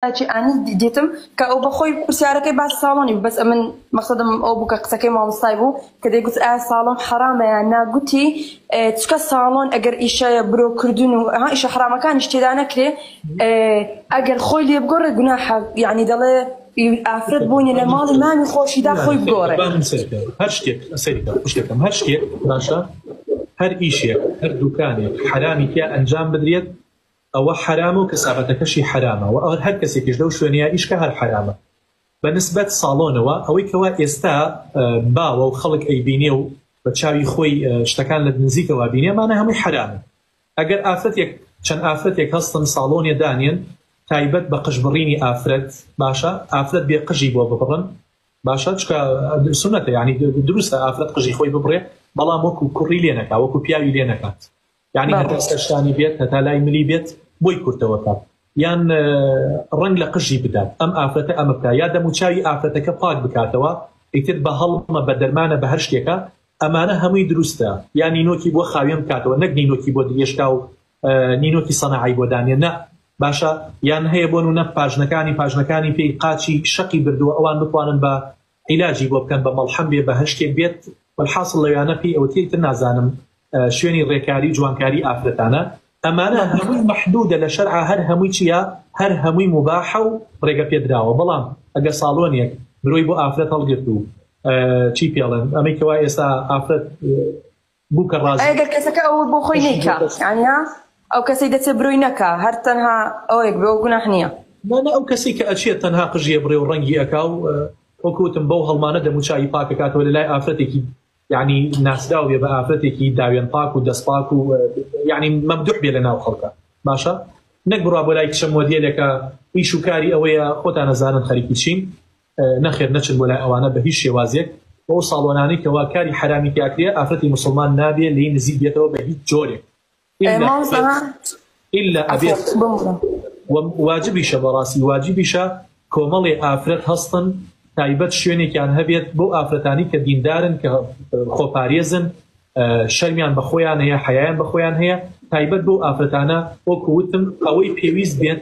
کاکی ئانی دیتم کە ئەو بەخۆی پرسیارەکەی باس ساڵۆنی بوو بەس ئەمن مەقصدم ئەو بوو کە قسەکەی مامۆستای بوو کە دەی گوت ئا ساڵۆن حەرامەیە ناگوتی چکە ساڵۆن ئەگەر ئیشەیە برۆ کردن و ها ئیشە حرامەکانی شتێدا نەکرێ ئەگەر خۆی لێ بگۆڕێ گوناحە یعنی دەڵێ ئافرەت بوونی لە ماڵی مامی خۆشیدا خۆی بگۆڕێ هەر شتێک سەیرکە شتێکم هەر شتێک باشە هەر ئیشێک هەر دوکانێک حرامی تیا ئەنجام بدرێت ئەوە حەرامە و کەسابەتەکەشی حەرامە و ئەوە هەر کەسێکیش لەو شوێنەیا ئیشکە هەر حەرامە بە نسبەت ساڵۆنەوە ئەوەی کەوا ئێستا باوە و خەڵک ئەیبینێ و بە چاوی خۆی شتەکان لە نزیکەوە بینێ مانە هەمووی حەرامە ئەگەر ئافرەتێک چەند ئافرەتێک هەستن ساڵۆنێ دانێن تایبەت بە قژبڕینی ئافرەت باشە ئافرەت بێ قژی بۆ ببڕن باشە چکە سنەتە ینی دروستە ئافرەت قژی خۆی ببڕێ بەڵام وەکو کوڕی لێ نەکا وەکو پیاوی لێ نەکات یعنی هەتا سەرشانی بێت هەتا لای ملی بێت بۆی کورتەوەکە یان ڕنگ لە قژی بدات ئەم ئافرەتە ئەمە بکە یا دەموچوی ئافرەتەکە پاک بکاتەوە ئیتر بە هەڵمە بە دەرمانە بە هەر شتێکە ئەمانە هەمووی دروستە یا نینۆکی بۆ خاوێن بکاتەوە نەک نینۆکی بۆ دێشکا و نینۆکی سەنەعی بۆ دانێ نە باشە یان هەیە بۆن و نە پاژنەکانی پاژنەکانی پێی قاچی شەقی بردووە ئەوان بتوانن بە عیلاجی بۆ بکەن بە مەڵحەم بێ بەهەشتێک بێت وەلحاسڵ لەویانە پێی ئەوترێ تر نازانم شوێنی ڕێکاری و جوانکاری ئافرەتانە ئەمانە هەمووی مەحدودە لە شەرعا هەر هەمووی چیە هەر هەمووی مباحە و ڕێگە پێدراوە بەڵام ئەگە ساڵۆنیەک برۆی بۆ ئافرەت هەڵگرت و چی پێڵێن ئەمەی کەوا ئێستا ئافرەت بوکە ڕازی. ئەی گەر کەسەکە ئەوەی بۆ خۆی نەیکا یانی نا ئەو کەسەی دەچێ برۆی نەکا هەر تەنها ئەوەیەک بێ ئەو گوناح نییە. نا نا ئەو کەسەی کە ئەچێ تەنها قژی ئەبڕێ و ڕەنگی ئەکا و وەکو وتم بەو هەڵمانە دەم و چاوی پاک ئەکاتەوە لە لای ئافرەتێکی یانی ناسراو بێ بە ئافرەتێکی داوێن پاک و دەست پاک و یانی مەمدوح بێ لە ناو خەڵکە باشە نەک بڕا بۆ لای کچە مۆدیلێکە ئیش و کاری ئەوەیە خۆتان نەزانن خەریکی چین نەخێر نەچن بۆ لای ئەوانە بە هیچ شێوازێک و ئەو ساڵۆنانەی کەوا کاری حەرامی تیا کرێ ئافرەتی موسڵمان نابێ لێی نزیک بێتەوە بە هیچ جۆرێک ئیلا ئەبێت واجبیشە بەڕاستی واجبیشە کۆمەڵی ئافرەت هەستن تایبەت شوێنێکیان هەبێت بۆ ئافرەتانی کە دیندارن کە خۆپارێزن شەرمیان بە خۆیان هەیە حیان بە خۆیان هەیە تایبەت بۆ ئافرەتانە وەکوتم ئەوەی پێویست بێت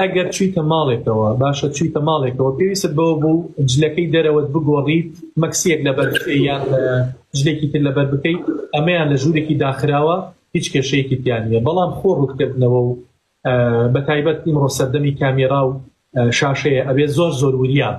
ئەگەر چویتە ماڵێکەوە باشە چویتە ماڵێکەوە پێویست بۆ بوو جلەکەی دەرەوەت بگۆڕیت مەکسیەک لەبەر یان جلێکی تر لەبەر بکەیت ئەمەیان لە ژوورێکی داخراوە هیچ کێشەیەکی تیانە بەڵام خۆ ڕووتکردنەوە و بە تایبەت ئیمڕۆ سەردەمی کامێرا و شاشەیە ئەبێ زۆر زۆر وریاب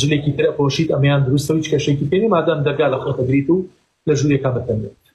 جلێکی تر ئەپۆشیت ئەمەیان دروستە و هیچ کێشەیەکی پێ نیە مادام دەرگا لە خۆت ئەگریت و لە ژوورێکا بتەنێت.